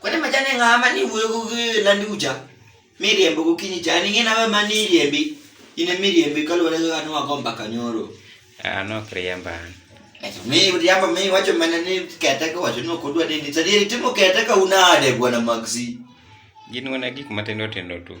Kwani majani ng'a ma ni wuyo gi landi ucha? Miriambo gokinyi cha ni ng'ina we ma ni riembi. In e miriembi kaluwore gi ng'at ma go mbaka nyoro. An ok riemba an. Eto mi riambo mi wacho mana ni kete ka wacho ni ok odwa ni ni sadieri timo kete ka unade bwana Maxi. Gin mana gik matindo tindo tu.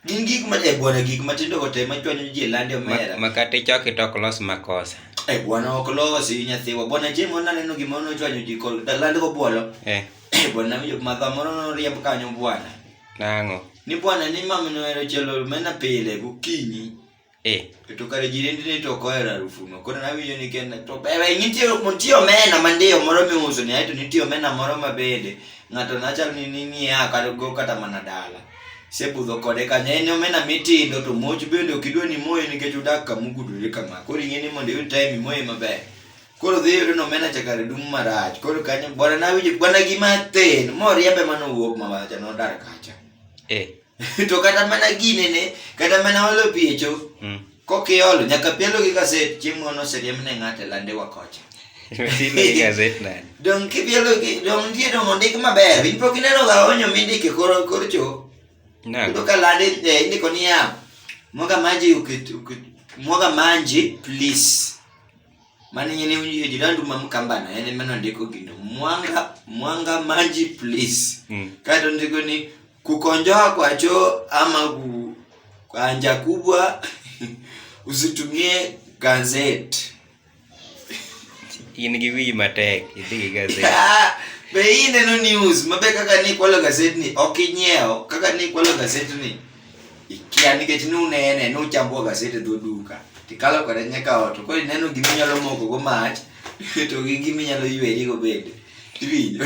Gin gik ma e bwana gik matindo go te ma chwanyo ji e lande omera. Makate choki to ok los makosa. E bwana ok losi nyathiwa. Bwana Jemo naneno gima nochwanyo ji kol da lande go bwolo. Eh. E bwana winjo madha moro noriemb kanyo bwana. Nang'o? Ni bwana ni mamino ohero chielo omena pile gokinyi. Eh. To kare jirendni to ok ohero harufuno. Koro nawinjo ni kenda to bebe nitie nitie omena mandiyo moro miuso ni aeto nitie omena moro ma bende ng'ato nachal ni ning'iya kata go kata mana dala. Sebudho kode kanyo en omena mitindo to muoch bende ok idwa ni imoye nikech odak kama ogudore kama. Koro ing'e ni mondo iyud time imoye maber. Koro dhi yudo ni omena cha kare dum marach. Koro kanyo bwana nawinjo bwana gima athen moriembe manowuok mawacha nodar kacha. Eh. to kata mana gine ne kata mana olo piecho mm. kokiolo nyaka pielo gi gaset chieng' mono oseriemb ne ng'ate lande wakocha dong kipielo gi dong nitie dong ondik maber in pok ineno ga onyo mindike kor kor cho yudo ka lande eh, indiko niya mwaga maji ukit, ukit, mwaga manji please Maana nyene hiyo jirani mamkambana yani maana ndiko kindo mwanga mwanga maji please mm. kato ndiko ni kukonjoa kwa choo ama ku kanja kubwa usitumie gazeti in gi wi matek idhi gi gazeti be ineno news mabe kaka ni kwalo gazeti ni ok inyiewo kaka ni kwalo gazeti ni ikia nikech nunene nuchambuo gaset e dho duka tikalo kode nyaka ot to koro ineno giminyalo mokogo mach to gi giminyalo ywerigo bende iwinjo